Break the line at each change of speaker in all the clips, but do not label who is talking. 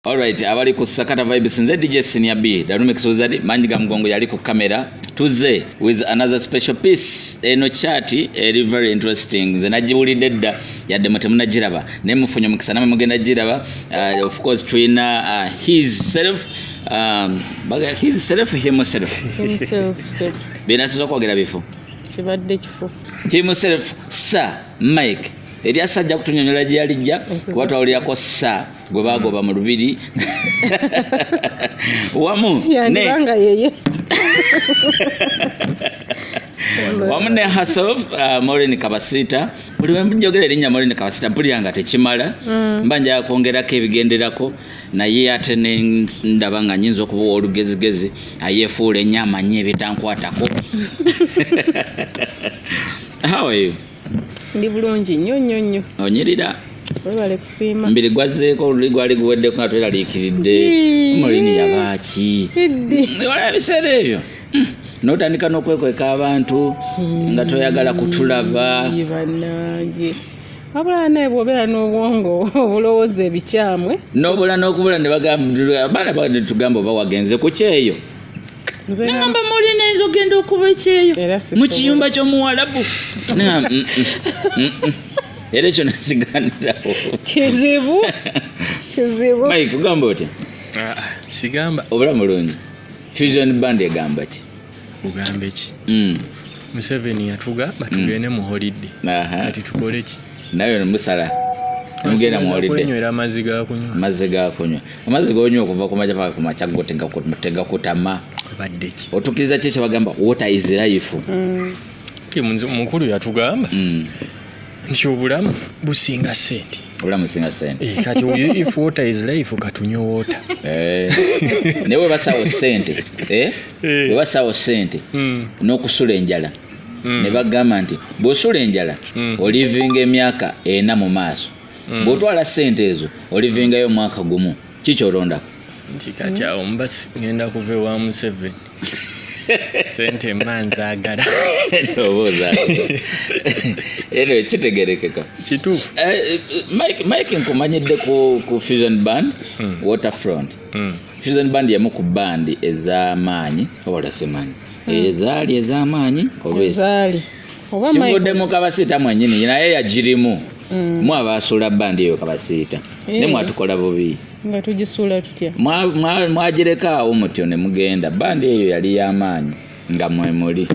Alright, abali ku Sakata Vibes nze DJ Senior B, Darume Kisozadi, manyi ga mgongo yali ku kamera. Tuze with another special piece. Eno chati eri very interesting. Nze najibulidde dda yadde mwe temunagiraba. Ne mufunye mukisa namwe mugenda giraba. Uh, of course tulina uh, his self um, baga his self himself. Himself. Bina sizo kwogera bifu. Kibadde kifu.
Himself
sir Mike. Eri asajja kutunyonyola gye yalijja kuba twawulirako sir gwe bagoba mu lubiri wamu yandibanga yeye wamu ne hasof uh, morin kabasiita buli wenjogera erinnya morin kabasiita mpulira nga tekimala mm. mba njaga kwongerako ebigenderako naye ate nendaba nga nyinza okuba olugezigezi ayefuula ennyo amanyi ebitankwatako how are you ndi bulungi
nnyo nnyo nnyo onyirira
webale kusiima
mbiri gwazzeeko oluli
gwali guweddeko nga tweraliikiridde molini yabaaki wala ebiseera ebyo hmm. notandika n'okwekweka abantu hmm. nga toyagala kutulaba banange
abula naye bwobeera n'obwongo obulowooza ebikyamwe nobula n'okubula
ne bagamba abaana bagenda tugamba oba wagenze ku kyeyo nagamba muli nayinza okugenda okuba ekyeyo mu kiyumba kyomuwalabu era ekyo nakiganirawo kizibu
kizibu
mike ogamba otya ah, ah, sigamba
obula mulungi
fusion band egamba ki ogamba eki
mm. museveni yatuga batugende mm. mu holidde ati tukoleki naye ono musala
mugenda muwulidde
amazzi gakunywa amazzi
gonywa okuva ku maja paka ku makya go tegakutama
otukiriza ki kyebagamba
water is life mm.
mukulu yatugamba mm. nti obulamu businga sente obulamu singa sente
eh, kati if water
is life katunywe water eh.
naye webasawo sente eh? webasawo sente hmm. n'okusula enjala mm. ne bagamba nti bw'osula enjala mm. olivinga emyaka ena mu maaso mm. bw'otwala ssente ezo olivingayo omwaka gumu kikyoronda nti kati
awo mba ngenda kuva ewa museveni sente mba nzagala
eno kitegerekeka kituufu eh,
eh,
mike nkumanyidde ku fusion band hmm. waterfront hmm. fusion band yamu ku bandi ez'amaanyi obalasimanyi ezaali ez'amaanyi oba ez- ezaali
oba Michael-
sivuddemu kabasiita mwenyini naye yagirimu Mm. mwe abaasuula bandi eyo kabasiita ne Eh. mwatukola bubi nga tugisuula
tutya Mwa- mwa- mwagireka
awo mutyo ne mugenda bandi eyo yali y'amaanyi nga mwe muli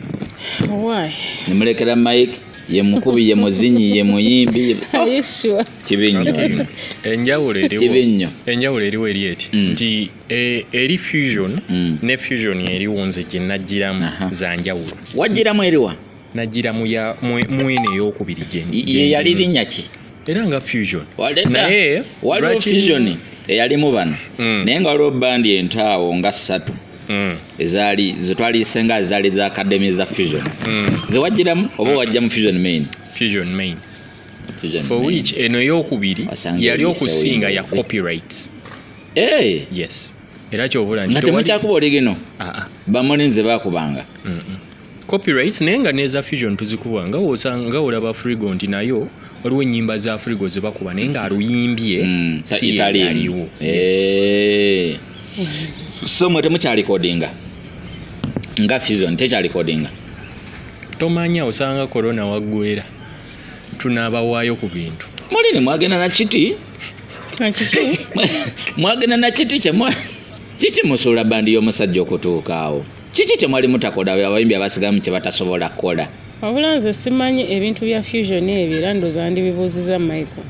why
ne mulekera
mike ye mukubi ye muzinyi ye muyimbi ye- are you sure
kibi nnyo
enjawulo eriwo Kibi nnyo.
enjawulo eriwo eri eti Mm. nti Eh, eri fusion mm. ne fusion eriwo nze gye najjiramu za njawulo wajjiramu eriwa
najjira
mwene eyokubiri gyeyali linnya
ki era nga fusion
naye
waliwo fusion eyalimu bano mm. naye nga waliwo bandi entaawo nga ssatu mm. ezaali zetwaliyise nga ezaali za academy za fusion mm. zewajjiramu oba wajja mu fusion main fusion main
for which eno eyokubiri yali okusinga ya copyrights Eh, yes era kyobula nti nga tewali- temukyakuba oligino
Ah, ah. bamoni nze bakubanga Mm-mm. copyrights
naye nga neza fusion tuzikuba nga wosanga nga olaba frigo nti nayo waliwo enyimba za frigo zebakuba naye nga aluyimbye Mm, ta- si itali emu. yaliwo Eh.
so mwe temukyalikodinga nga fusion tekyalikodinga
tomanya osanga corona waggwera tunabawaayo ku bintu mulini mwagenda
nakiti mwagenda nakiti kyemwa kiki musuula bandi y'omusajja okutuuka awo kiki kyemwali mutakola abayimbi abasigamu kyebatasobola kukola wabula nze
simanyi ebintu bya fusion ebyo era ndoza ndibibuuziza michael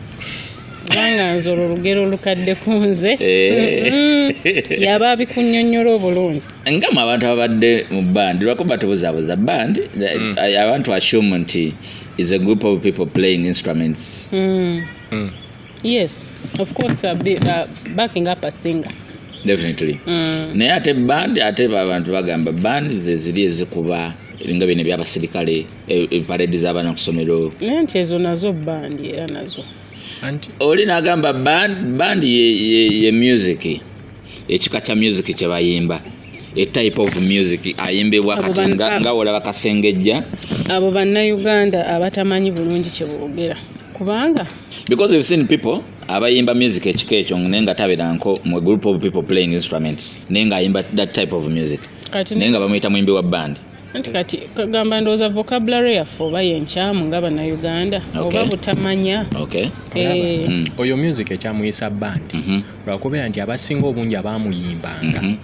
kubanga nze olwo olugero olukadde ku nze eh. mm. yaba abikunyonyola obulungi nga mu abantu ababadde
mu bandi lwako batubuzabuza bandi mm. abantu assume nti is a group of people playing instruments mm.
mm. yes of course uh, be, uh, backing up a singer definitely mm.
naye ate band ate abantu bagamba band zeziri ezikuba ebinga bino ebyabasirikale eparedi e, zabaana kusomero naye nti ezo nazo
bandi era nazo oli
nagamba bandi ye, ye, ye music ekika kya music kye bayimba a type of music ayimbibwa kati nga olaba kasengejja
abo bannayuganda abatamanyi bulungi kye
boogera
kubanga because we've
seen people abayimba music ekika ekyo naye nga taberanko mu group of people playing instruments naye nga ayimba that type of music naye nga bamuyita muyimbi wa band anti kati
kagamba ndowooza vocabulary yaffe oba yenkyamu nga bannayuganda oba butamanya eh.
mm. oyo music ekyamuyisa bandi mhm. lwakubeera nti abasinga obungi abaamuyimbanga mhm.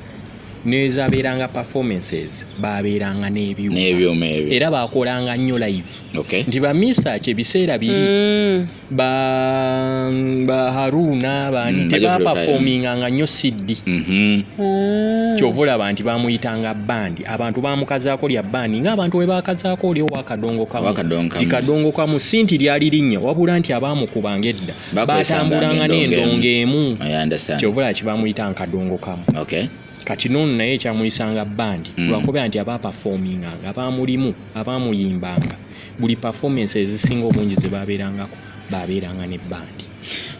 nezabeeranga performances babeeranga nebyuma era bakolanga nnyo live nti bamisa kyebiseera biri mm. ba ba haruna baani Mm, bajja kuleeta, tebapafoominganga nnyo siddi Mhm. Ah. kyova olaba nti bamuyitanga bandi abantu bamukazaako lya bandi ngaabantu bwe bakazaako oli owakadongo kamu Owakadongo kamu. ti kadongo kamu si nti lyali linnya wabula nti abaamukubanga edda Bakozesanga batambulanga n'endongo n'endongo emu I understand. kyova olaba kibamuyita nkadongo kamu Okay. kati noono naye ekyamuyisanga bandi Mm. lwakubeera nti abaapafoominganga abaamulimu abaamuyimbanga buli performance ezisinga obungi zebabeerangako babeeranga ne bandi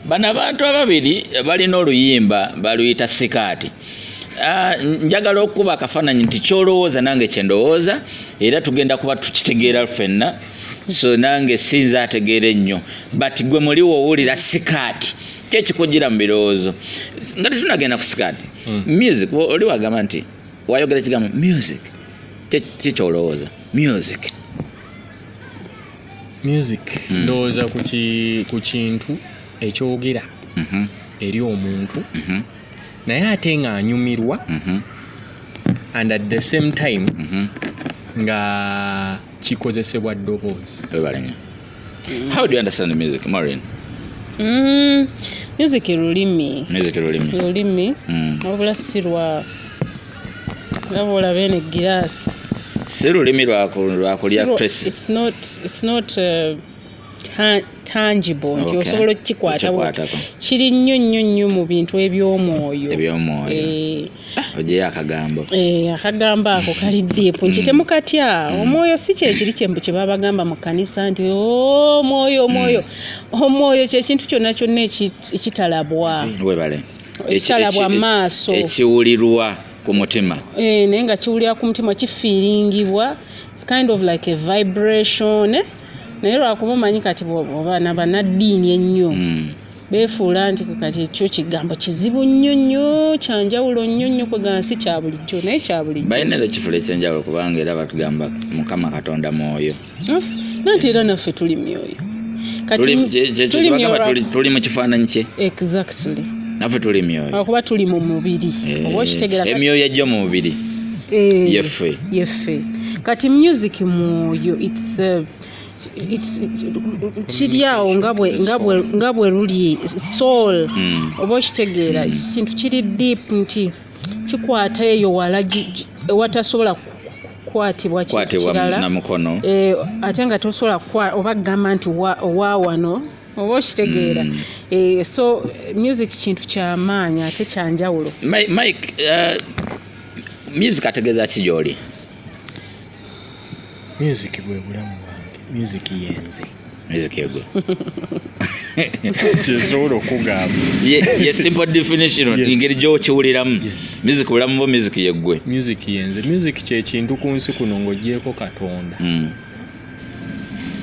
bano abantu
ababiri balina oluyimba baluyita sikaati ah, njagala okukuba akafaananyi nti kyolowooza nange kyendowooza era tugenda kuba tukitegeera fenna so nange sinza ategeera ennyo but gwe muli wowulira sikaati kyekikujira mu birowoozo nga tetunagenda ku sikaati hmm. music oli wagamba nti wayogera ekigambo music kyekyolowooza music
music mm. ndowooza ku kintu ekyogera mm -hmm. eri omuntu mm -hmm. naye ate nga anyumirwa mm -hmm. and at the same time mm -hmm. nga kikozesebwa ddoboozi
how do you understand music maureen Mm,
music lulimi music lulimi lulimi Mm. wabula si lwa laba olaba eno egiraasi si lulimi lwaku-
lwakulya Siro- tracy it's not it's not uh,
ta- tangible nti Okay. osobola okukikwata bwoti Okikwatako. kiri nnyo nnyo nnyo mu bintu eby'omwoyo eby'omwoyo Eh,
ojeyo akagambo eh, akagambo
ako kali dipu nti mm. temukatya mm. omwoyo si kyekiri kyembu kyebabagamba mu kanisa nti oh, omwoyo omwoyo mm. omwoyo kyekintu kyonna kyonna ekitalabwa ekitalabwa maaso ekiwulirwa
ku mutima eh, naye nga kiwulira
ku mutima kifiiringibwa kind of like a vibration eh? naye lwakuba omanyi kati oba nabanaddiini ennyo beefuula nti kati ekyo kigambo kizibu nnyo nnyo kyanjawulo nnyo nnyo kwegansi kya bulijjo naye kya bulijjo balina era ekifula ekyenjawulo
kubanga era batugamba mukama katonda mwoyo nanti
era naffe tuli myoyo
tuli mu kifaananyi kye exactly
naffe tuli
myoyo akuba tuli mu mubiri
eh, oba okitegera emyoyo egyo mu mubiri
eh, yeffe yeffe
kati music mwoyo itself It's- it- kiri awo nga bwe- nga bwe- nga bwe luli soul Mm. oba okitegeera kintu kiri deep nti kikwata eyo wala gi- gi- ewatasobola ku- kukwatibwa kintu kwatibwa kirala na mukono Eh, ate nga tosobola kukwa- oba kugamba nti wa- owa wano oba okitegeera Mm. Eh, so eh, music kintu kyamaanyi ate kyanjawulo Mi- mike uh,
music ategeeza ki gyoli
music bwe bulamu bwange music yenze
music egwe
kyesobola okugamba ye simple
definition engeri gyokiwuliramu music bulamu bo music yeggwe music yenze music
kyekintu ku nsi kuno ng'ogyeko katonda hmm.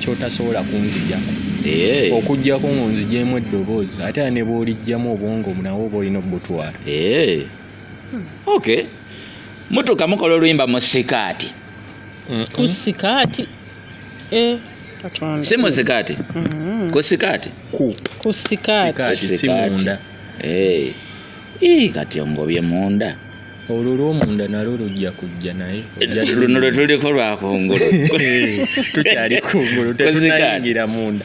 kyotasobola kunzijako eh. okujjako ngonzigyemu eddoboozi ate a ne bwolijjamu obwongo nawe oba olina obutwala eh. okay
mutuka mukola oluyimba mu sikaati ku
sikaati eh, katonda
si mu sikaati Mm, ku sikaati ku ku
sikaati Sikaati. si munda.
Eh. Ii,
kati ongobye munda olwo lwomunda
nalwo lujja kujja naye Ojja luno lwe tuliko
lwakungulu
tukyali kungulu Ku sikaati. tetunayingira munda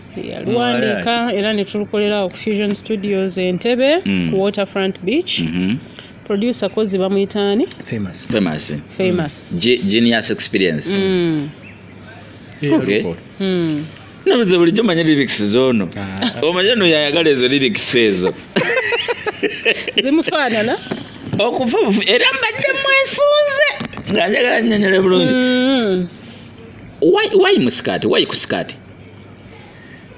yaluwandiika
era ne tulukolera ku fusion studios entebe mm. ku waterfront beach mm -hmm. producer kozi bamuyitaani famous famous
famous mm. genius experience mm. yeah, okay. mm. nabuze bulijjo manya lyrics zoono ah. omanya no yayagala ezo lyrics ezo
zimufaanana okufa
era mbadde mwesunze nga njagala nyonyola bulungi mm. why, why musikati why kusikati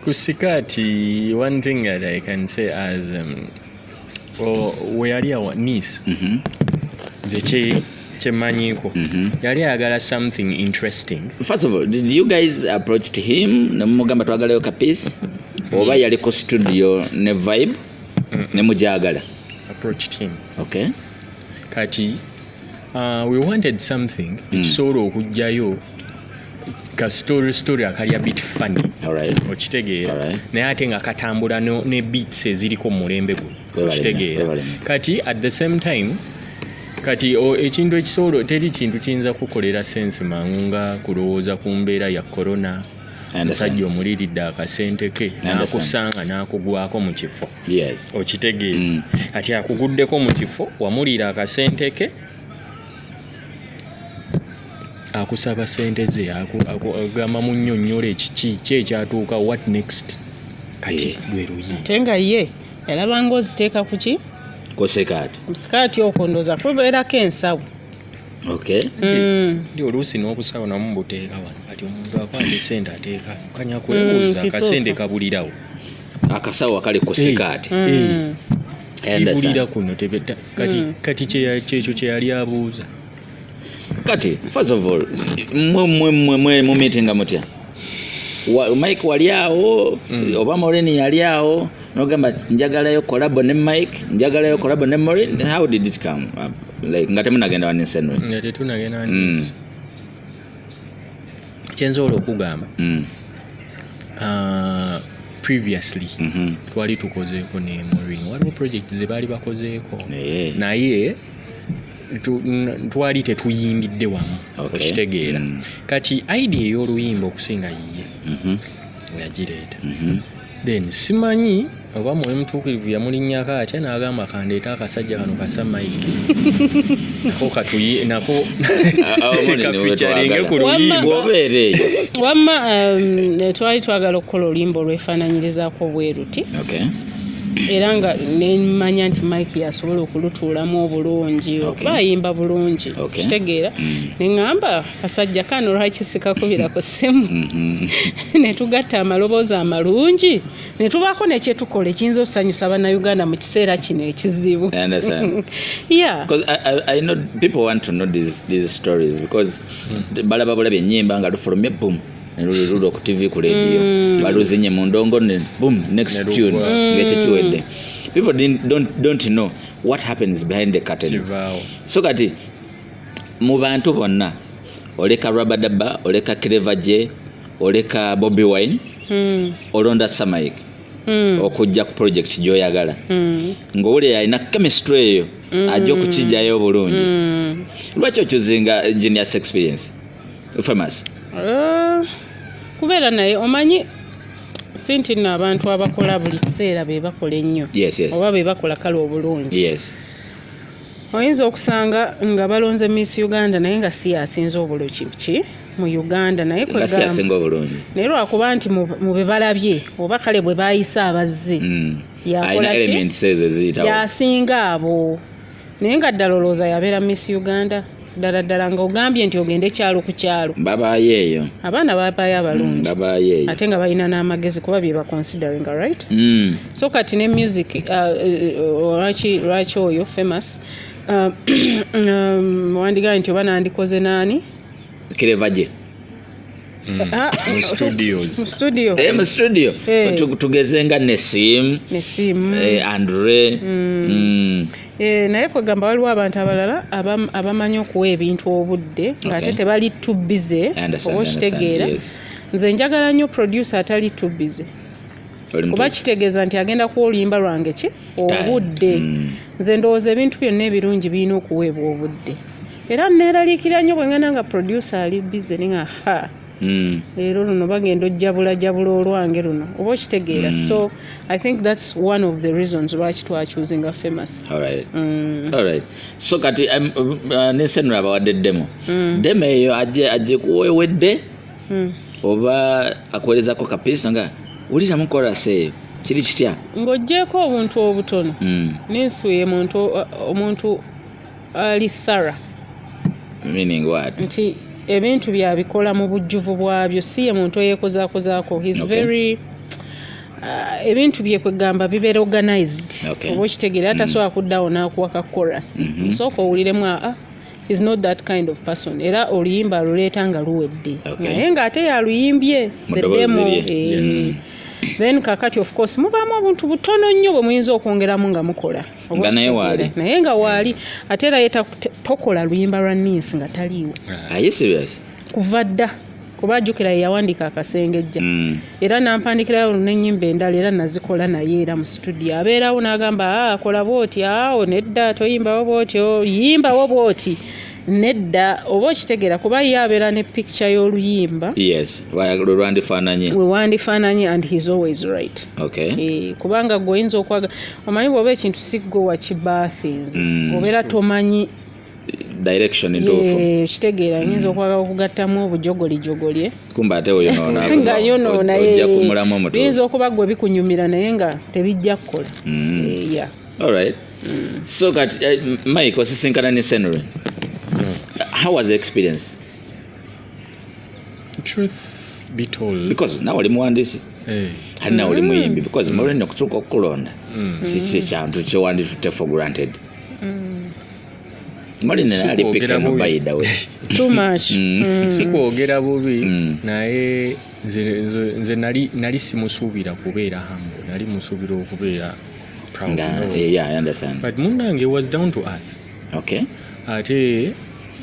Kusikati,
one thing that I can say as um, oh, we yali awa niece mm -hmm. nze kyemanyiko mm -hmm. yali ayagala something interesting first of all did
you guys approached him nemumugamba twagalayo ka piece oba yali ku studio ne vibe mm -mm. nemujagala approached him
okay
kati
uh, we wanted something mm. ekisobola mm. okujjayo ka story story akalya bit funny okitegeera naye ate nga katambula ne beats eziriko mumulembe guno okitegeera kati at the same time kati ekintu ekisolo teri kintu kiyinza kukolera sense mangu nga kulowooza ku mbeera ya corona omusajja omuliridde akasente ke nakusanga nakugwako mu kifo okitegeera
mm.
kati akuguddeko mu kifo wamuliira akasente ke akusaba sente ze agamba munyonyola ekiki ki ekyatuuka what next kati eh. lwe luyi ate nga ye
yalaba nga oziteeka ku ki ku sikaati ku
sikaati okwo
ndooza kubeerako ensawo okay
mm. ndi
oluusi n'obusawo namu mbuteeka wano kati omuntu akwata esente ateeka kanya kwebuuza mm, akasente kabulirawo akasawo
akali ku sikaati mm. eh.
ibulira kuno tebeta kati mm. kati kyekyo kyeyali abuuza
kati first of all mumitinga mutya mike wali awo mm. oba moreni yali awo nogamba njagalayo kolabo ne mike njagalayo kolabo ne morin how did it come up like nga temunagenda waninsenwe nga tetunagenda
waninsenwe mm. kyensobola okugamba mm. uh, previously mm -hmm. twali tukozeeko ne morin waliwo project zebaali bakozeeko yeah. naye twali tetuyimbidde wamu okay. okitegeera mm. kati idea ey'oluyimba okusinga yiye mm -hmm. yagireeta mm -hmm. then simanyi oba mwoyo mutuukirivu yamulinnyako atya n'agamba kandeeta akasajja kano kasa maiki nako katuye nako kaficaringe ku luyimboobeereeyo
wamma
um, twali twagala okukola oluyimba olwefaananyirizaako obweruti
era nga
nemanya nti mike yasobola okulutuulamu obulungi bayimba bulungi kitegeera mm. neŋamba kasajja kano lwaki sikakubira ku ssimu mhm. netugatta amaloboozi amalungi netubaako nekyetukola ekiyinza okusanyusa banauganda mu kiseera kino ekizibu
balaba bulabi enyimba nga lufulumye bum nelulirula ku tv ku lediyo mm. baluzinye mu ndongo ne bum next tune ngekyo kiwedde people don't, don't know what happens behind the curtains so kati mu bantu bonna oleka rabadaba oleka cleverje oleka bobi wine mm. olonda samaik mm. okujja ku project gyoyagala mm. ngaowulira alina chemistry eyo mm. ajja okukijjayo obulungi mm. lwaki okyuzinga genius experience famous uh,
kubeera naye omanyi si nti nno abantu abakola buli kiseera be bakola ennyo yes, yes. oba be bakola kale obulungi yes. oyinza okusanga nga balonze miss uganda naye nga si yasinza obuluki ki mu uganda naye kwegasinga obulungi naye lwakuba nti mu bebalabye oba kale bwe bayise abazze hmm. yakolaki yasinga abo naye nga ddala olowooza yabeera miss uganda ddala ddala nga ogambye nti ogende kyalo ku kyalo babaayo eyo
abaana babaayo abalungi mm,
babaayo eyo ate nga balina n'amagezi kuba bye baconsidering right mm. so kati ne music uh, uh, uh, lwaki oyo famous um, wandigaye nti oba nandikoze naani kirevaje
Ah,
mu studios mu studio Eh, mu studio Eh. Tu- tugeze nga nesim nesimu eh, andre mm.
Eh, naye kwegamba waliwo abantu abalala abam- abamanyi okuwa ebintu obudde ngaate tebali too busy Understand, oba okitegeera understand, yes. nze njagala nnyo producer atali too busy kuba kitegeeza nti agenda kuwa oluyimba lwange ki obudde mm. nze ndowooza ebintu byonna ebirungi birina okuweebwa obudde era neeraliikira nnyo bwe ngenda nga producer ali bize ni nga ha mm. leero luno bagenda ojjabula jabula olwange luno oba okitegeera mm. so i think thats one of the reasons lwaki twacuuzinga famous
so kati um, uh, nesenura abawadde demo demo eyo ajekuwewedde hmm. oba akuweerezako kapiisa nga wuliramu korasi eyo kiri kitya ng'ogyeko obuntu
obutono hmm. nensuye omuntu ali thara
meaning what nti ebintu
byabikola mu bujjuvu bwabyo si ye muntu eyekozakozaako his okay. very Uh, ebintu byekwegamba bibeera organized oba okitegeera atasobola mm. kuddawo n'akuwa ka korasi osooka mm-hmm. owuliremu aa ah, ah, is not that kind of person era oluyimba aluleeta nga luwedde naye nga ate yaluyimbye the demo eh. then kakati of course mubaamu obuntu butono nnyo bwe muyinza okwongeramu nga mukola naye nga waali ate era ye tokola luyimba lwa ninsi nga taliiwo ah, kuva dda kuba ajukira yeyawandiika akasengejja mm. era nampandikirayo nenyimba endala era nazikola naye era mu situdio abeerawo nagamba ah, akola bwoti awo nedda toyimbawo bwoti oh, yimbawo bwoti nedda oba okitegeera kuba ye abeera ne picture y'oluyimba lwewandifaananye lwewandifaananye and his always right okay. e, kubanga gwe oyinza okwaga omanyi bwoba ekintu sigwe wakibathins mm. obeera tomanyi direction
entuufu
kitegeera nyinza okwagala okugattamu obujogolijogolye kumba ate
oyonoonanga yonoona
yinza okuba gwe bikunyumira naye nga tebijja kukola mm. eh,
alright mm. so kati eh, mike osisinkana ne senry mm. how was the experience
truth be told because nawe oli muwandiisi
eh. kati nawe oli muyimbi because mulina okutuuka okukulonda si kyekintu kyewanditutte for granted Mali nina ali pick Sikwogera him bubi. by the way.
too much Mm. sikwogera bubi Mm. naye nze, nze, nze nali, nali simusuubira kubeera hambo nali musuubira okubeera proud, Nga no. eh, yeah, I understand. but munange was down to earth Okay. ate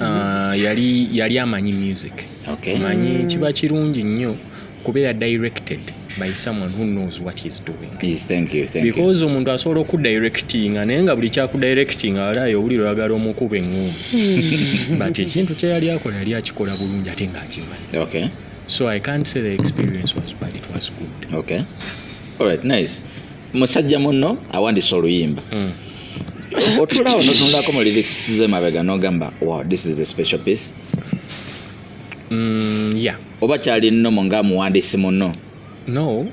uh, yali, yali amanyi music Okay. manyi kiba kirungi nnyo kubeera directed by someone who knows what he's doing yes, thank you, thank
because omuntu asobola
okudirectinga naye nga buli kyakudirectinga walayo obuliro oyagala omukuba eŋŋumba hmm. but ekintu kyeyali akola yali akikola bulungi ate ngaakimanyi okay. so i can't say the experience was bad it was good okay. All right,
nice musajja munno awandisa oluyimba mm. otulawo notunulako mu lyrics zemabega nogamba wow this is a special piece mm,
yeah. oba kyali nomo
nga muwandiisi muno no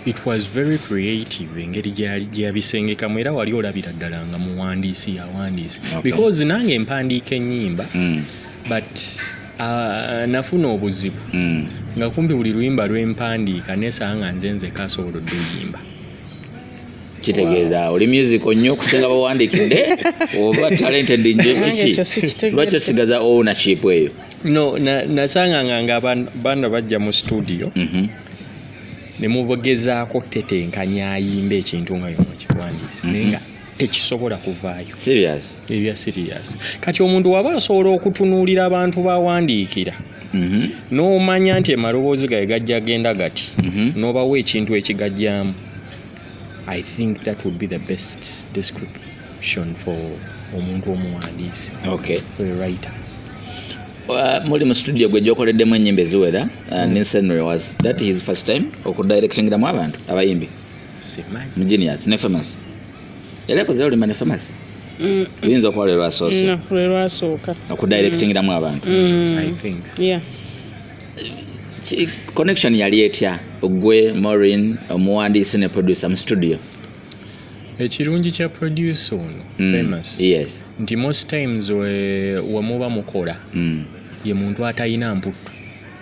it was very creative engeri gyeyabisengekamu era wali olabira ddala nga muwandiisi yawandiisi okay. because nange empandiika enyimba mm. but uh, nafuna obuzibu mm. nga kumpi buli luyimba lwempandiika nesanga nze nze kasobola oduyimba kitegeeza
oli musical nnyo okusinga bawandikidde oba talented nje kiki lwaki osigaza ownership eyo no
nasanganga nga bana bajja mu studio mhm. nemugezaako tetenkanya ayimba ekintu nga yomu kiwandiise mhm. naye nga tekisobola kuvaayo ebya
sirias
kati omuntu waba asobola okutunuulira abantu bawandiikira mhm. n'omanya nti emaloboozi gaye gajja genda gati n'obawo ekintu ekigajjamu I think that would be the best description for omuntu omuwandiisi okay. for a writer Uh,
muli mu studio gwe gyokoleddemu enyimba eziwera uh, mm. ninsenry was that his first time okudirectingiramu abantu abayimbi mu genius ne famous yali akoze olumba ne famous mm. luyinza okuba lwe lwasoose lwe lwasooka okudirectingiramu abantu mm. i think
yeah
connection yali etya ogwe morin omuwandiisi ne producer mu studio
ekirungi kya producer ono mm. famous yes. nti most times wemuba mukola mm. ye muntu atalina mputtu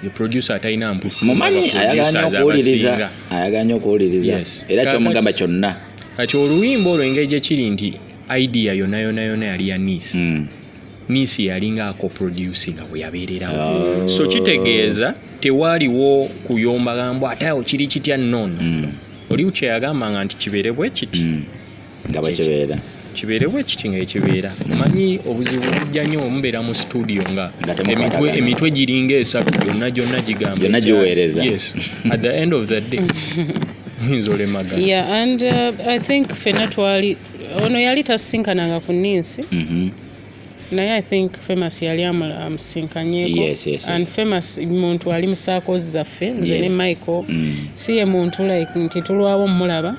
ye producer atalina mputtu mumanyi
ayagala nyo okuwuliriza yes. era kyomugamba kyonna kati oluyimba
olwo engeri gyekiri nti idea yonayonayona yali ya nice mm. nisi yalinga ako producing bwe yabeererawo oh. so kitegeeza tewaaliwo kuyomba gambo ate awo kiri kitya nono mm. oli kye yagamba nga nti kibeere bwe kiti mm. nga
bakibeera kibeere bwe kiti
nga ekibeera manyi obuzibu bujja nnyo omubeera mu studio nga emitwe giringa esatu gyonna gyonna gigamba giweereza
at the
end of the day oyinza olemagana yeah and uh,
i think fena twali ono yali tasisinkananga ku ninsi mhm. naye i think famous yali amusinkanyeko and famous muntu ali musaakozi zaffe nze ne michael mm. si ye muntu like nti tulwawo omulaba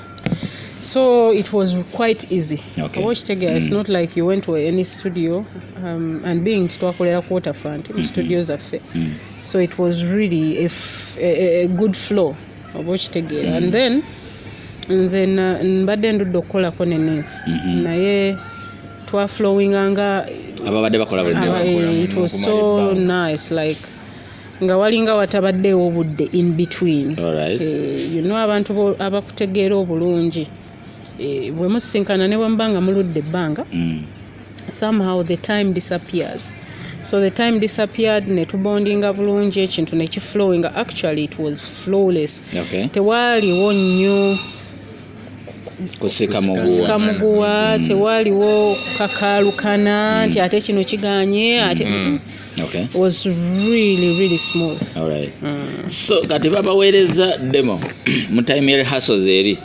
so it was quite easy okay. oba okitegera mm. it's
not like
you went to any studio um, and being nti twakolera ku waterfront mu mm-hmm. studio zaffe mm. so it was really a, a, a good flow oba okitegeera mm. and then nze mbadde ndudde okukolako ne nesi mm-hmm. naye twaflowinga nga ababadde
bakola
nga walinga watabaddeewo obudde in between eh,
you know abantu
abakutegeera obulungi e, bwe musisinkana ne bwemuba nga muludde ebbanga mm. somehow the time disappears so the time disappeared ne tubondinga bulungi ekintu ne kiflowinga actually it was flawless okay. tewaaliwo
nnyo kusika muguwa mm.
tewaaliwo kukakaalukana mm. nti ate kino kiganye ate mm -hmm. okay.
was
really really small All right.
mm. so kati babaweereza demo mu time rehearsals eri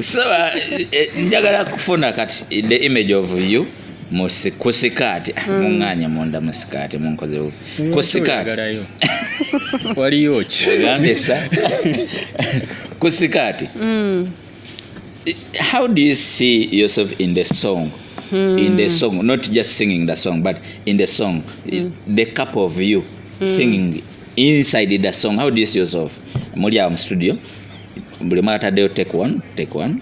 saba eh, eh, njagala kufuna kati the image of you kusikaati ah, hmm. muŋŋaanya munda mu sikaati munkozewo ku sikaati
waliyo kiambesa
ku sikaati hmm. how do you see yourself in the song hmm. in the song not just singing the song but in the song the cup of you singing inside the song how do you see yourself muli awo mu studio buli mwe ataddeyo take one take one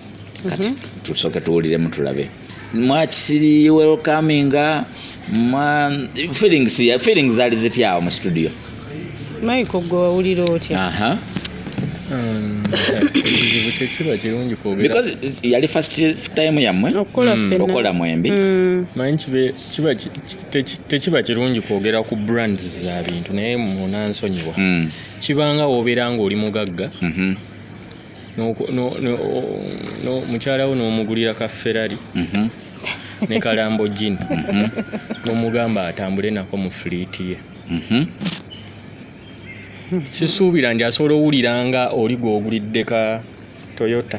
kati mm -hmm. tusooke tuwuliremu tulabe mwakisiri welcominga mwa feelings ya feelings zali ziti awo mu studio maiko
gwe wawulira otya uh -huh.
Um, because yali first time yamwe okukola mm. mwembi mm.
kiba tekiba kirungi kwogera ku brands za bintu naye munansonyiwa mm. kibanga wobeera nga oli mugagga mm-hmm. mukyala wo n'omugulira ka ferrari mm-hmm. ne kalambo jini mm-hmm. nomugamba atambule nako mu fliiti ye sisuubira ndi asobola owulira nga oli gwogulidde ka toyota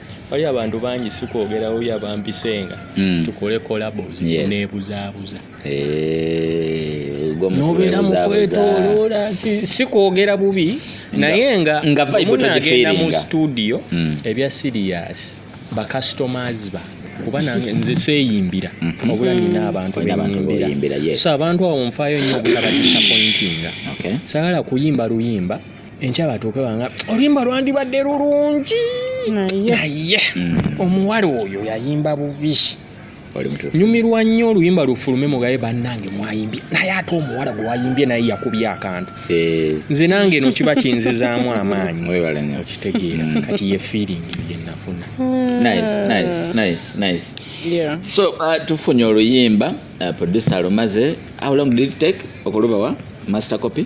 wali abantu bangi sikwogera oyo abampisenga mm. tukole collabos yes. nebuzaabuza eh, nobeera mukwetoloola sikwogera bubi naye nga munagenda mu studio mm. ebya sirias bacustomers ba kuba nange nze seeyimbira mhm. obula nina abantu benyimbira so abantu abo nfaayo nnyo obutaba disappointinga sagala kuyimba luyimba enkya batuuke banga oluyimba lwandibadde lulungi naye mm. omuwala oyo yayimba bubi nyumirwa nnyo oluyimba lufulume mugaye bannange mwayimbye naye ate omuwala gwe wayimbye naye yakubye akantu eh. nze nange no kiba kinzizaamu amaanyi okitegeera mm. kati ye feeling yenafuna
so uh, tufunye oluyimba uh, producer alumaze how long did it take okulubawa master copy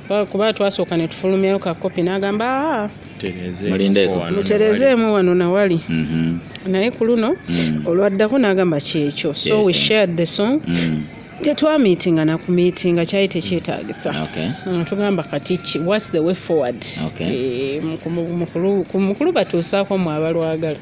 kuba twasooka ne tufulumyayo ka kopi n'agamba ah, muterezeemu wano nawali mhm. naye ku luno mm. olwaddako n'agamba kyekyo so we shared the song mm. tetwamiitinga nakumiitinga kyali tekyetagisa mm, tugamba kati ki whats the way forward eh, mukulu batuusaako mwe abalwagala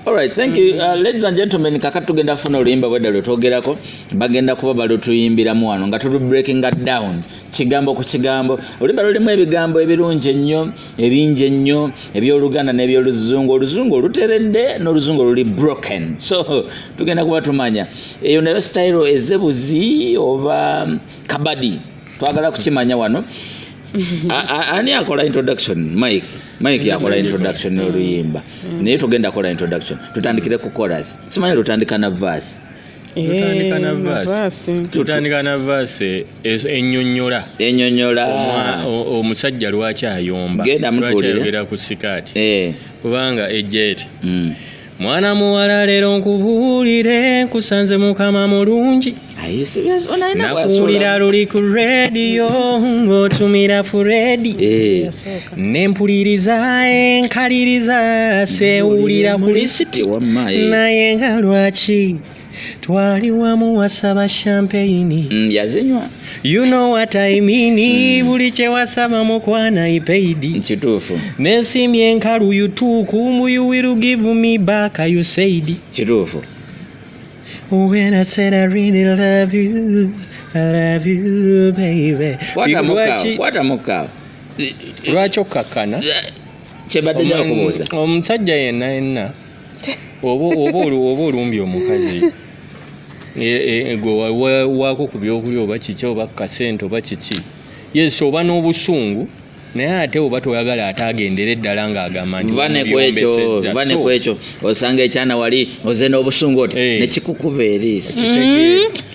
Alright, thank
you. Uh, ladies and gentlemen, kaka tugenda funa oluyimba bwedda lwe twogerako bagenda kuba balutuyimbiramu wano nga tulu breaking that down kigambo ku kigambo oluyimba lulimu ebigambo ebirungi ennyo ebingi ennyo ebyoluganda n'ebyoluzungu oluzungu oluteredde n'oluzungu oluli broken so tugenda kuba tumanya eyo nayo style ezebuzi oba kabadi twagala kukimanya wano ani akola introduction mike mike yakola introduction noluyimba mm. naye tugenda kola introduction tutandikire ku coras simanyi lutandika na vas
tutandika na vas enyonyola enyonyola omusajja lwaki ayomba lwaki ayogera
ku sikaati
eh. kubanga ejeti mm. mwana muwala leero nkubuulire nkusanze mukama mulungi nakuwulira luli ku rediyo ng'otumira furedi eh. nempuliriza enkaliriza sewulira ku lisiti naye nga lwaki twali wamu wasaba champagne mm, yazinywa
you know what
i mean mm. buli kyewasaba mukwana ipaid kituufu
nesimye enkalu
yutuukumu you will give me back you said kituufu when i said i really love you i love
you baby lwaki
okkakkana kyebadde
jakubuuza omusajja yenna
yenna oba olumbye omukazi e, e, e, waako ku byokulya oba kiki oba kukasente oba kiki yes oba n'obusungu naye ate oba toyagala ate agendere eddala ng'agamba ntivanekwekyo
osanga ekyana wali oze n'obusungu oti eh. nekikukuba eriiso mm-hmm.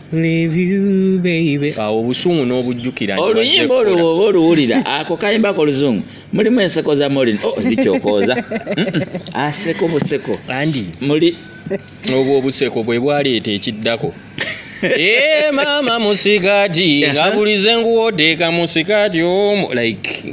awo obusungu n'obujjukira oluyimba olwo bwoba
oluwulira ako kayimba ko luzungu mulimu enseko za molin oh, zikyokooza aseko buseko andi muli obwo
obuseko bwe bwaleeta ekiddako Eh, mama musikati ngabulize nguwoteka musikati omu like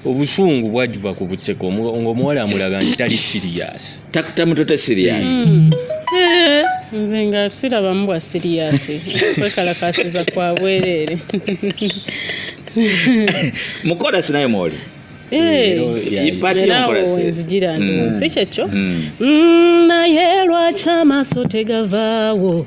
obusungu bwajiva ku butseko ngaomuwala amulaga nti tali siriyasi tamutote
siriyasi hmm.
eh, nze nga sirabamu bwa siriyasi kwekalakasiza kwa bwereere
mukolasi naye mwoli
nzijira eh, hmm. si kyekyo hmm. naye lwaki amaaso tegavaawo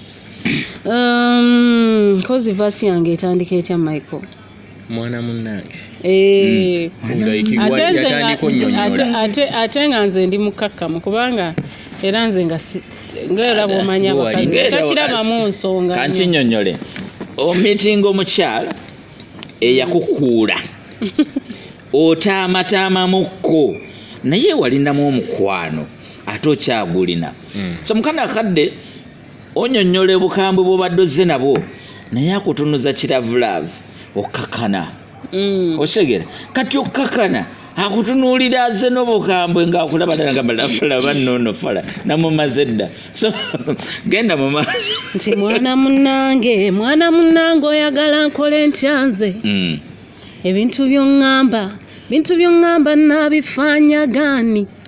um,
kozi vasi yange etandika etya michael mwana
munnange eh, hmm.
ate nga nze ndi mukakkamu kubanga era nze nga ngaera bwomanya abakazi takirabamu nsonga kankinyonyole
omitinga omukyala eyakukuula otaamataamamukko naye walinamu omukwano ate okyagulina hmm. so mukana akadde onyonyola obukambwe bwobadde ozze nabwo naye akutunuza kiravulavu okukakana mm. osegera kati okukakana akutunuulira aze n'obukambwe ngaakulaba dalagalaba nono fala namumaze dda so genda mu maaso nti mwana
munange mwana munange oyagala nkole ntya nze mm. ebintu byoŋŋamba bintu byoŋŋamba naabifaanyagaani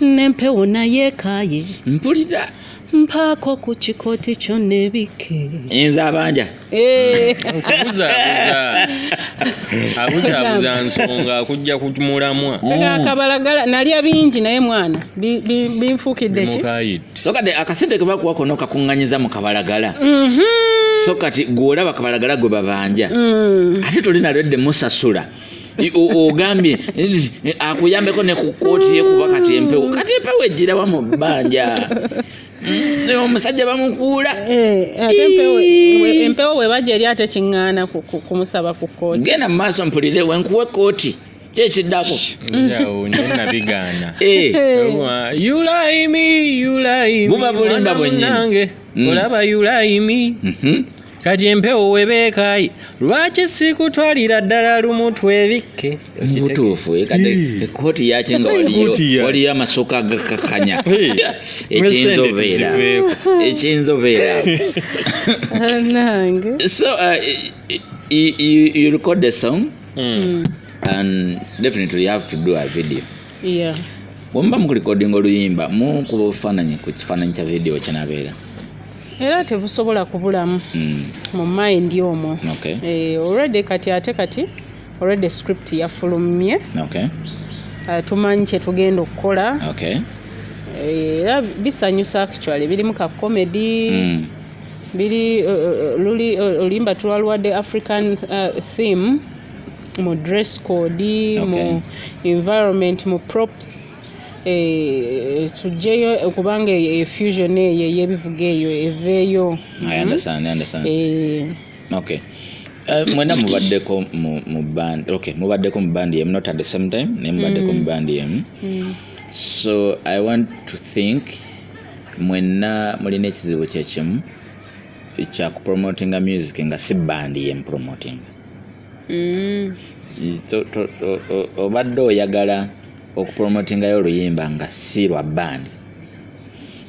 n'empewo naye ekaaye mpulira
mpaako
ku kikooti kyo nebikke enza abanja
eh. okubuzaabuza
abuzaabuza nsonga akujja ku mulamwa akabalagala
nalya bingi naye mwana binfuukidde ki so kati akasente
ke bakuwa kona okakuŋŋanyiza mu kabalagala mhm. so kati gweolaba kabalagala gwe babanja mm. ate toli nalwedde musasula ogambye eh, akuyambeko ne ku kooti yekuba kati empewo kati empewo ejjirawa mu bbanja mm, eh, omusajja bamukuula eh, ate
empewo webajja eri ate kiŋŋaana kumusaba ku kooti genda mu maaso mpulire
wenkuwa ekooti kyekiddako
buba bulimba
bwenyini mm. olaba
yulaimi mhm. kati empewo webeekayi lwaki sikutwalira ddala lumu twebikke mubutuufu eh,
kati ekooti yaki nga waliyo amasuka gakakanya ekiyinza obeera ekiyinza obeera so uh, you, you record the song mm. and definitely you have to do a video yeah.
bwemuba
mukulikodinga oluyimba mukuba obufaananyi ku kifaananyi kya vidiyo kinabeera era
tebusobola kubulamu mm. mu mind omwo okay. e, already kati ate kati already script yafulumye okay. uh, tumanyi kyetugenda okukola okay. Eh, era e, bisanyusa actually birimu ka comedy mm. biri uh, luli uh, olimba tulwalwadde african uh, theme mu dress code okay. mu environment mu props eh, tujjeyo kubanga e, fusion eyo eyebivuga eyo eveeyo mm. eh.
okay. Uh, mwena mubaddeko mu band okay mubaddeko mu band yemu not at the same time naye mubaddeko mu mm. band yemu mm. so i want to think mwena mulina ekizibu kyekimu kyakupromotinga music nga si band yemu promotinga mm. obadde oyagala okupromotingayo oluyimba nga si lwa bandi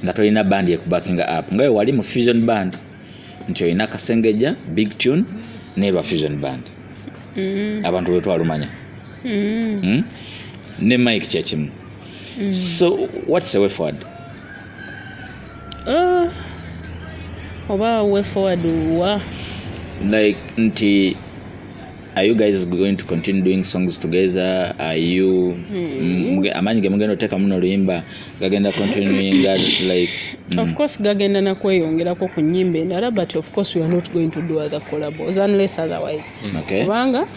nga tolina bandi ekubakinga app nga wali mu fusion band nti olina kasengejja big tune neba fusion band mm. abantu lwetwalumanya mm. hmm? ne mike kyekimu mm. so whats away forward
uh, oba way forward wa
like nti are you guys going to continue doing songs together are you hmm. amaanyi ge mugenda oteekamu noluyimba gagenda continuing like mm. of course
gagenda nakweyongerako ku nyimba endala but of course we are not going to do other collabos unless otherwise hmm. kubanga okay.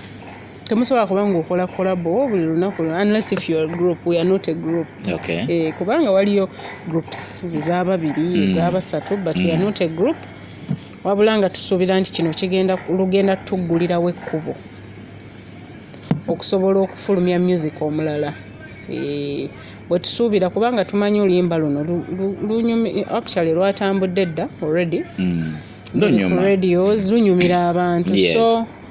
temusobola kuba nga okola kolabo buli lunaku unless if your group we are not a group okay. eh, kubanga waliyo groups ezababiri mm. ezabasatu but mm. we are mm. not a group wabula nga tusuubira nti kino kigenda lugenda tuggulirawo ekkubo okusobola okufulumya music omulala eh, bwetusuubira kubanga tumanyi oluyimba luno actually lwatambudde dda already mm. radios lunyumira abantu yes. so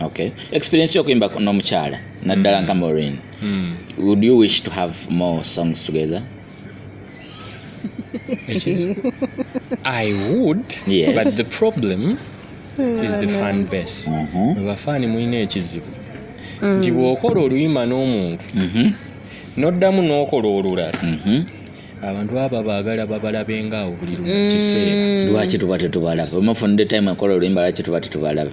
okay experience yokuyimba n'omukyala naddala nga morin hmm. would you wish to have more songs together
i would yes. but the
problem
is the fan base mm-hmm. bafaani mulina ekizibu mm. nti bw'okola oluyima n'omuntu mm-hmm. n'oddamu n'okola olulala mm-hmm. abantu baba baagala babalabenga awo buli lumu kiseera mm. lwaki tuba tetubalabe
omufunde time akola oluyimba lwaki tuba tetubalabe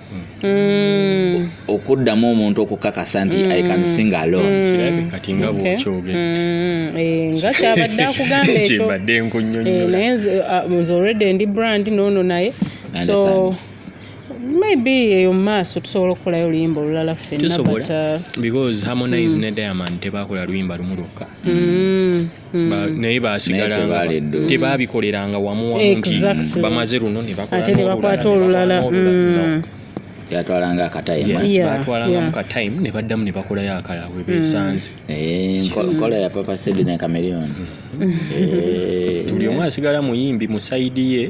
Mm. okuddamu omuntu okukakasa nti mm. i can sing alone mm. kirabe kati nga
bwokyogedde mm. eh,
nga kyabadde akugamba ekyobadde nkunyonyola eh,
naye ah, nze already
ndi brand noono naye so maybe eyo mumaaso tusobola okukolayo oluyimba olulala ffenna uh, because
harmonize mm. ne diamond tebakola luyimba lumu lwokka mm. Hmm. naye basigalanga tebabikoleranga wamu wamu nti bamaze luno nebakwata olulala
hmm.
yatwalanga akatayibatwalanga mu
katayimu ne baddamu ne bakolayo akala we besanze hmm. eh, nkola
ya papa sidi ne kamerion eh.
buli omu asigala muyimbi mu saidi ye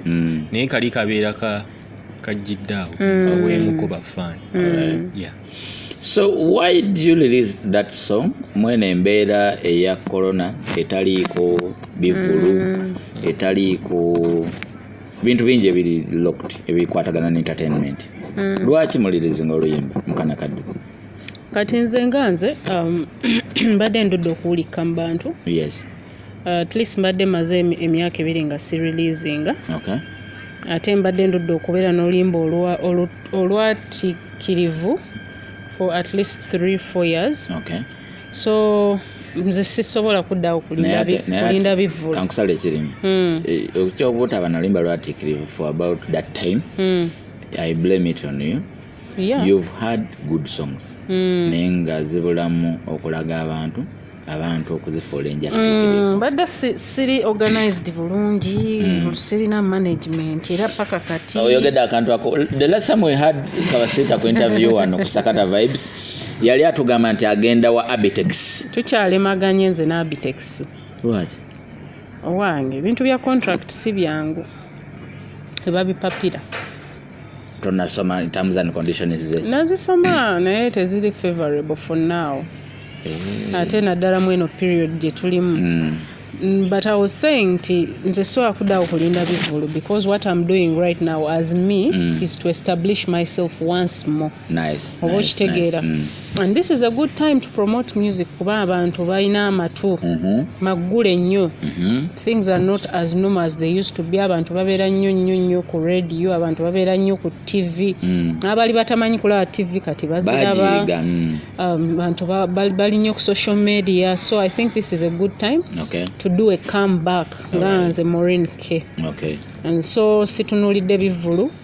naye kali kabeera kajjidde awo aweemuko bafaani so
why do you release that song mwene embeera eya corona etaliiko bivulu mm. etaliiko bintu bingi ebiri locked ebikwatagana ne entertainment mm. lwaki mulirizinga oluyimba mukana kadde kati
nze nga nze um, mbadde ndudde okuwulikka mu bantu yes
Uh, at least
mbadde maze emyaka ebiri nga si releasinga okay.
ate mbadde
ndudde okubeera n'olimba olwatikirivu for at least 3 4 years okay. so nze sisobola kuddawo kulinda bivvulakankusala ekirimu
hmm. eh, okyobutaba nalimba lwatikirivu for about that time hmm. i blame it on you yeah. you've
had good
songs mm. naye nga zibulamu okulaga abantu abantu okuzifuula enjatitikivu mm, badde siri
organized bulungi mm. sirina management era paka kati oyogedde akantu ako
the last time we had kabasiita ku interview wano kusakata vibes yali atugamba nti agenda wa abitex tukyalemaganye nze
ne abitex lwaki
owange
ebintu bya contract si byangu ebabipapira
tonasoma terms and conditions ze nazisoma naye
teziri favorable for now eh. ate naddala mu eno period gye tulimu mm. Mm, but i was saying nti nze sobola kuddawo kulinda bivulu because what im doing right now as me mm. is to establish myself once more nice, oba nice,
okitegeera
nice. Mm. and this is a good time to promote music kuba abantu balina amatu Mhm, maggule nnyo mhm. things are not as normal as they used to be abantu babeera nnyo nnyo nnyo ku radio abantu babeera nnyo ku tv Mm. abaali batamanyi kulaba tv kati baziraba Bagiyiga, mm. um, bantu ba- bali bali nnyo ku social media so i think this is a good time Okay, to do a come back nga Alright. nze morin k okay. and
so
situnulidde bivulu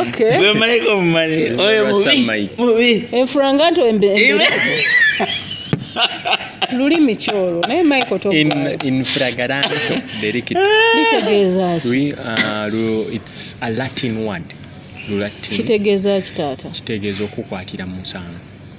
okay gwe malayika
omumanyi oyo Lwa mubi Samai. mubi enfula nga nto embe
embe- lulimi kyolwo naye michael in togwayo in fragaranto
delicto litegeeza
ki Lwi- ah, lu-
it's a latin word lulatin kitegeeza ki
taata kitegeeza okukwatira
mu musango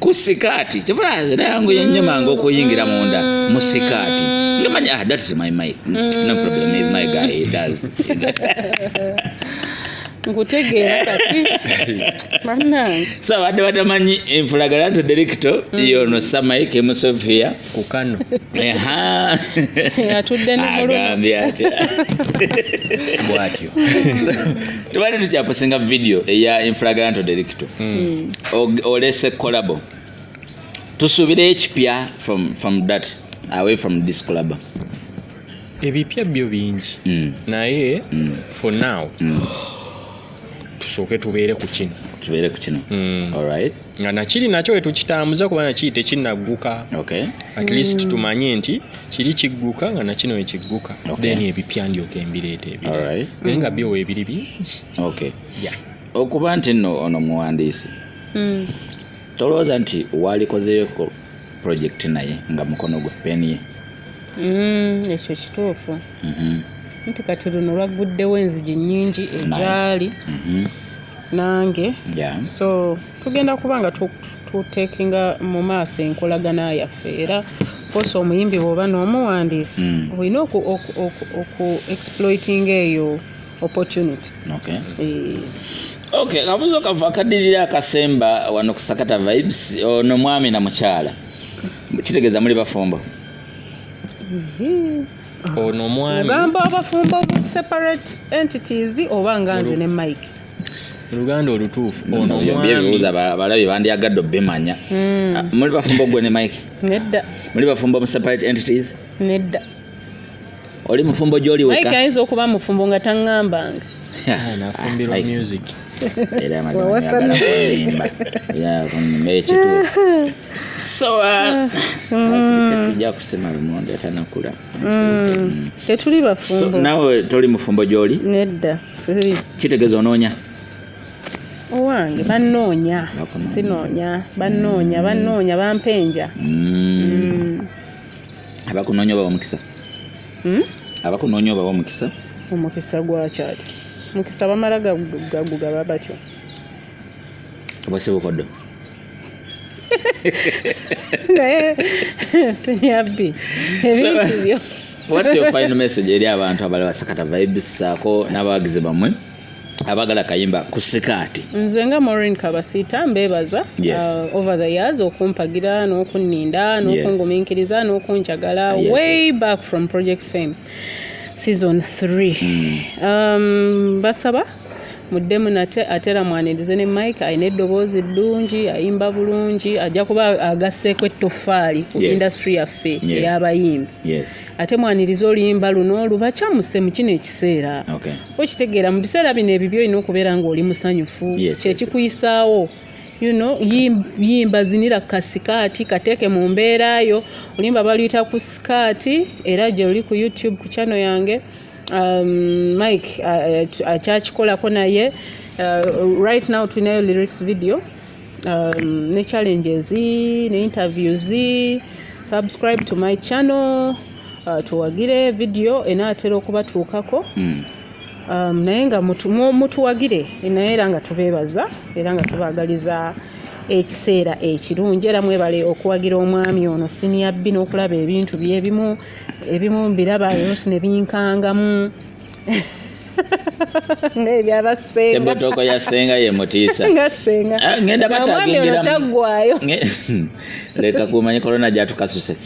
ku sikaati kivula nze nayanguye nnyo mm. mangu okuyingira munda mu sikaati ngamanya ah, that is my mic mm. no problem is my guy he does
nkutegeera kati so abadde
batamanyi enfulagala nti delikito mm. yono samaike musofia kukano
atudde agambye
atya bwatyo tubadde tukyaposinga vidiyo eya infragranto delicto hmm. olese kolabo tusuubira ekipya from dat away from this kolabo
ebipya byo bingi hmm. naye hmm. for now tusooke tubeere ku kino tubeere
ku kino alright nga nakiri nakyo
wetukitambuza kuba nakiri tekinagguka okay. at
least mm. tumanye
nti kiri kigguka nga nakino wekigguka okay. then ebipya ndyoka embireeta ebiri right. naye nga byo
webiri
bingi okay. yeah. okuba nti no
ono muwandiisi mm. tolowooza nti walikozeyoko project naye nga mukono gwe peni ye mm,
ekyo kituufu mm -hmm. nti kati luno lwagguddewo enzigi nyingi egyali nice. mm -hmm. nange yeah. so tugenda kuba nga tutekinga mu maaso enkolagana yaffe era kosa omuyimbi bwoba n'omuwandiisi mm. olina oku exploiting eyo opportunity
okay. e ok kabuzo kava akadirira akasemba wano kusakata vibes ono mwami na mukyala kitegeeza muli bafumbo mm -hmm.
ono omwami ogamba abafumbo bu
separate entities oba nga nze ne mike oluganda
olutuufu ono omwamibibuuza abalabi
bandyagadde obimanya hmm. ah, muli bafumbo gwe ne mike nedda muli
bafumbo mu
separate entities nedda oli mufumbo gyoliweka ayinza okuba mufumbo
nga taŋŋambanga ah, nafumbirwa
music era
amadimagala kunimba yakunima ekituufu so uh, mm. sijja kusema lumonde atanakula mm.
mm. tetuli bafumbo nawe toli
mufumbo gyoli nedda
kitegeeza
onoonya
owange banoonya sinoonya banoonya banoonya bampenja
abakunoonya obawa omukisa hmm? abakunoonya obawa omukisa omukisa
gwakyali mukisa bamala gagugaba batyo
oba si bukoddo
naye sinyabbi ebintubyo what's your final
message eri abantu abali basakata vibes saako n'abawagizi bammwe abagala kayimba ku sikaati nze nga morin
kabasiita mbebaza yes. uh, over the years okumpagira n'okunninda n'okunguminkiriza yes. n'okunjagala ah, yes. way back from project fame season 3 mm. um, basaba muddemu nate atera mwanirize ne mike alina eddoboozi ddungi ayimba bulungi ajja kuba agasseeko ettoffaali ku yes. industry yaffe yes. eyabayimbi ate mwaniriza oluyimba luno lubacamuse mu kino ekiseera okitegeera mu biseera bino ebibyo olina okubeera ng'oli musanyufu kyekikuyisaawo you know yimba zinira kasikaati kateeke mu mbeera yo olimba baluyita ku sikaati era gye luli ku youtube ku channel yange um, mike akyakikolako uh, uh, naye uh, right now tulinayo lyrics video um, ne challenges ne interviews subscribe to my channel uh, tuwagire video enaatera okubatuukako mm. um, naye nga mutuwagire naye era nga tubeebaza era nga tubaagaliza ekiseera ekirungi era mwebale okuwagira omwami ono siniyabbi n'okulaba ebintu byebimu ebimu mbiraba yonsi ne binkangamu nebyabasengatooko ya senga
ye mutiisa ah, ngenda batagingirakyagwayo leka kumanya korona gyatukasuse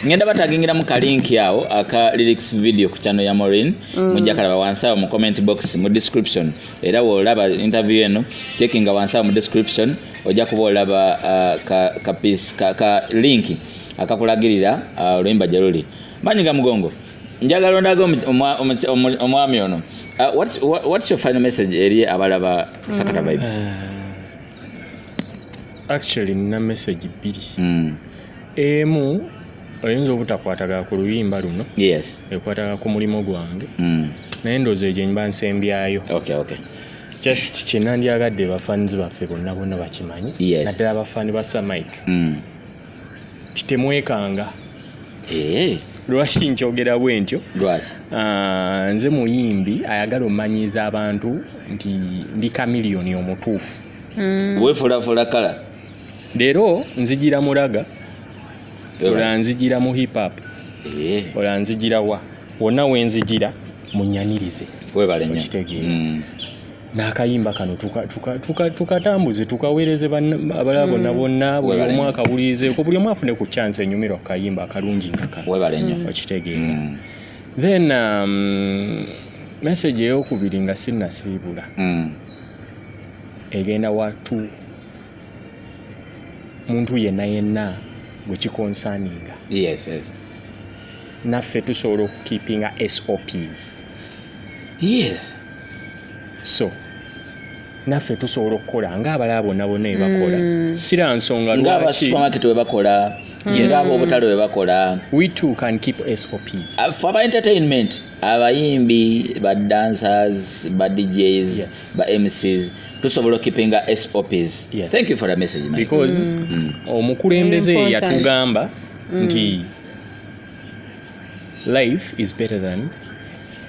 ngenda batagingira mu kalinki awo aka lyrics video ku kyano ya morin mm. mujja kalaba wansi awo mu comment box mu description era wolaba interview eno tekinga wansi awo mu description ojja kuba olaba ah, ka linki akakulagirira ah, oluyimba gye luli manyi ga mugongo njagala ondaga omwami ono uh, whats your final message eri abalaba sakata mm. vibes eh,
actually nina message bbiri mm. emu oyinza obutakwataga ku luyimba luno yes ekwataga
ku mulimu
gwange mm. naye ndoozi egyo nyiba nsembyayo okay, okay.
just
kyenandyagadde bafans baffe bonna bonna bakimanyi yes. naddala bafani ba samike mm. nti temwekanga eh. lwaki nkyogera bwe ntyo ah, nze muyimbi ayagala omanyiiza abantu nti ndi kamiliyoni omutuufu hmm. wefulafula
kala leero
nzijira muraga olaa nzijira mu hip hop eh. olaa nzijira wa wonna wenzijira munyanirize webalenyo
n'akayimba
kano tukatambuze tukaweereze abalala bonna mm. bonna buli omu akawulirizeko buli omu afune ku kyansi enyumirwa ku kayimba akalungi ngaka mm. okitegeera
mm.
then um, message eyokubiri nga sinnasiibula egenda watu muntu yenna yenna gwe kikonsaninga yes, yes. naffe tusobola okukeepinga sops yes so naffe tusobola okukola ngaabalala bonna bonna ebakola mm. sira nsonga ngabasupamaketi
webakola mm. ngaabo obutale webakola we too can keep
sops uh, for aba entertainment
abayimbi ba dancers ba djs yes. ba mcs tusobola okipinga sops yes. thank you for the message because mm. mm.
omukulembeze yatugamba mm. nti mm. life is better than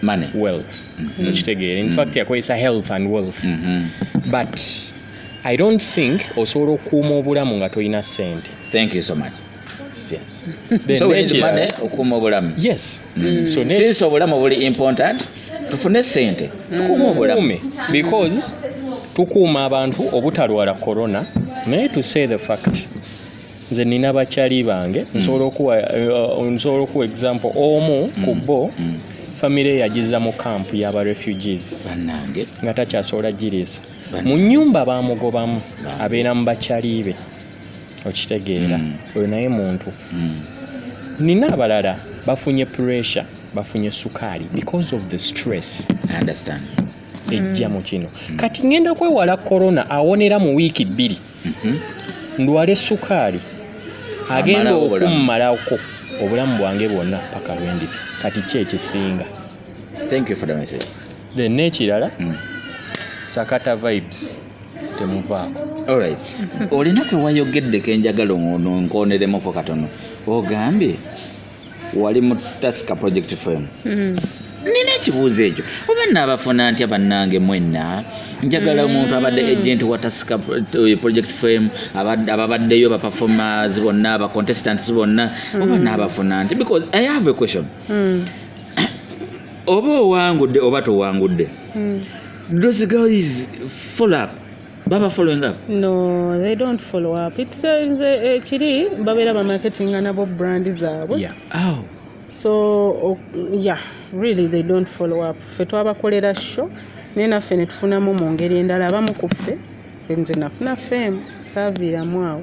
money
wealth mm-hmm.
okitegeera in fact mm-hmm. yakozesa health and wealth mm-hmm. but i don't think osobola okuuma obulamu nga tolina sente thank you so much
yes.
so we need the
money okuuma obulamu yes mm. Mm. so
since
obulamu buli important tufune sente mm. tukuuma obulamu because
tukuuma abantu obutalwala corona naye to say the fact nze nina bakyali bange mm. nsobola okuwa uh, nsobola okuwa example omu mm. ku bo mm. famire yagiza mu kampu yaba refugees banange nga
takyasobola
giriisa mu nyumba bamugobamu abeera mu bakyali be okitegeera oyo naye muntu nina abalala bafunye pressure bafunye sukaali because of the stress I understand
ejja mu
kino kati ngenda kwewala corona awonera mu wiiki bbiri mhm. ndwale sukaali agenda okummalako obulamu bwange bwonna paka lwendifa kati ki ekisinga
then nekirala
mm. sakata vibes temuvaako olright
olina kewayogedde kenjagala onkoneremuko katono ogambye wali mu tasika project firm hmm. nina ekibuuzo ekyo oba naabafuna ntya bannange mwenna njagala omuntu abadde mm. agent wa tasika eh, project firm ababaddeyo baperformers bonna bacontestants bonna oba mm. naabafuna nti because i have a question mm. oba owangudde oba towangudde those girls follow up baba following up no they don't
follow up it's a, it's a, kiri babera ba marketing anabo brand zaabwe yeah. oh.
so
oh, yeah really they don't follow up fe twabakolera sho naye naffe netufunamu mu ngeri endala abamu ku ffe nze nafuna fame saaviiramu awo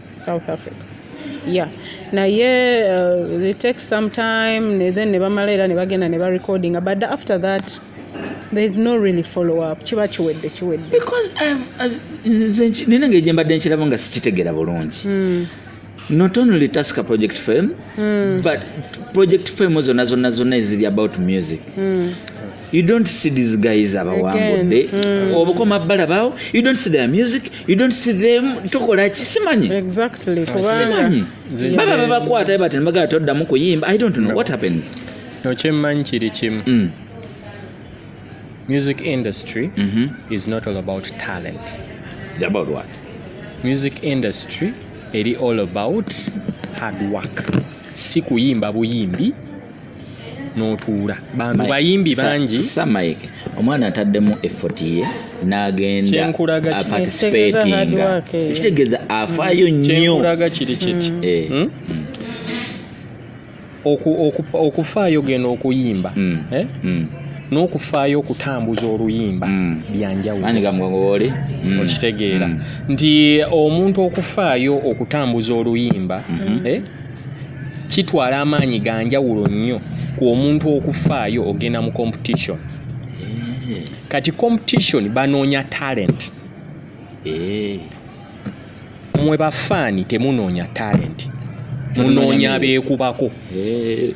south africa yeah naye uh, it takes some time ne then ne bamala era ne bagenda ne barecordinga but after that there is no really follow up kiba kiwedde kiwedde
because nina ngeri gye mbadde nkiraba nga sikitegeera bulungi hmm. not only taska project fame mm. but project fame zonna zonna zonna eziri about music mm. you don't see these guys abawangudde mm. obukoma bbala bawo you don't see their music you don't see them tokola kisimanyi
simanyi
baba babakwata bati nebagala toddamu kuyimba i don't know what happens nokyemmanyi
kiri kimu mm. music industry mm-hmm. is not all about talent It's about
what music
industry eri all about hard work si kuyimba buyimbi notuula bantu bayimbi bangi samike omwana
ataddemu effort ye nagenda participatinga ekitegeeza afaayo mm. nnyoaga kiri kiti
mm. eh. hmm? okufaayo gena okuyimba mm. Eh? n'okufaayo okutambuza oluyimba mm. byanjawulooli
mm. okitegeera
mm. nti omuntu okufaayo okutambuza oluyimba mm-hmm. eh? kitwala amaanyi ga njawulo nnyo ku omuntu okufaayo ogenda mu competition eh. kati competition banoonya talent eh. mwe bafaani temunoonya talent munoonya abeekubako eh.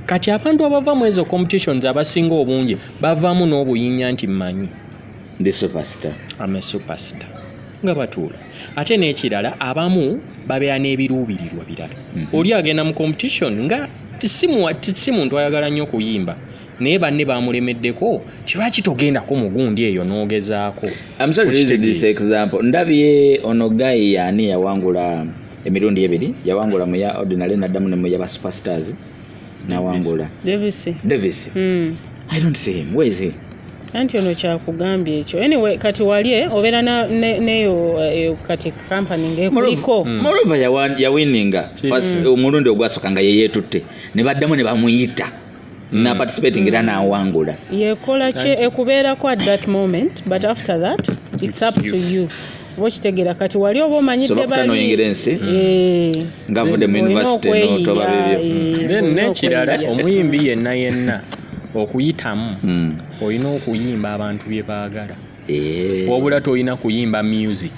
kati abantu abava mu ezo competitions abasinga obungi bavaamu n'obuyinja nti mmanyi ndi superstar
am a superstar
nga batuula ate n'ekirala abamu babeera n'ebiruubirirwa birala mm -hmm. oli agenda mu competition nga si muntu ayagala nnyo okuyimba naye banne bamulemeddeko kiba kitogendako mugundi eyo nogezaako
ndabye ono gayi yaani yawangula emirundi ebiri yawangula muya ordinary naddamu ne muya ba superstars nawangula davis davis mm. i don't see him where is he anti ono
kyakugambye ekyo anyway kati wali eh, obeera neyo eh, kati kampani ngaekuliko hmm. morova
yawininga hmm. omulundi ogwasoka nga yeyetutte ne baddamu ne bamuyita hmm. naparticipating era nawangula yekola kye
ekubeerako at that moment but after that it's up to you bokitegera kati wali oba omanyidde balinoyingira ensi
hmm. eh. nga avudde mu univesity notoba bibyo eh. hmm. nekirala
omuyimbi yenna yenna okuyitamu hmm. olina okuyimba abantu bye baagala eh. wabula tolina kuyimba music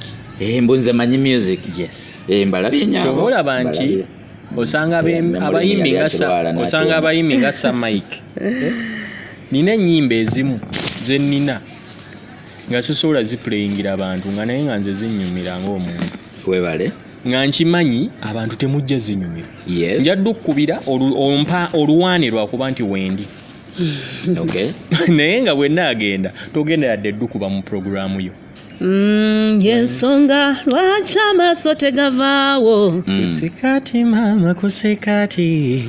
mbu nze manyi
music yes mbalabye
nyabo
olaba nti
osanga abayimbi nga osanga abayimbi nga sa mike nina enyimba ezimu zenina nga sisobola zipuleyingira abantu nga naye nga nze zinyumira ngaomuntu webale
nga nkimanyi
abantu temujja zinyumira njadde
okukubira
ompa oluwaane lwakuba nti wendi
naye nga
bwenna agenda togenda yadde eddukuba mu puroguramu yo Mm, yensonga
lwaki amaaso tegavaawo mm. kusikati
maama kusikati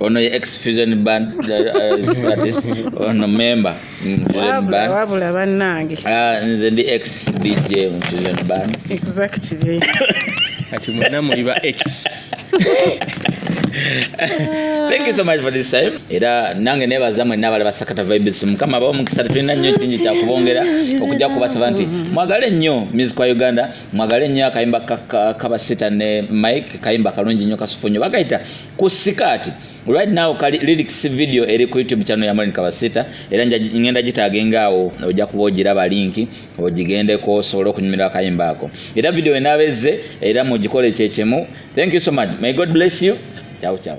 ono ye
ex fusion band uh, artist ono member wabula bannange
ah, nze ndi ex
dj mu fusion band exactly
kati
mwena muli ba ex
thank you so much for this time era nange nebaza mwenna abali basakata vibes mukama abawo mukisa tetulina nnyo kingi kyakubongera okujja kubasaba nti mwagale nnyo music wa uganda mwagale nnyo akayimba kabasita ne mike kayimba kalungi nnyo kasufu nnyo bagayita ku sikaati right now kali lyrics video eri ku youtube channel ya Morin Kabasita era ngenda gitagenga awo ojja kuba ogiraba linki ogigendeko osobola okunyumira akayimba ako era video enabezze era mugikole kyekimu thank you so much may god bless you ciao ciao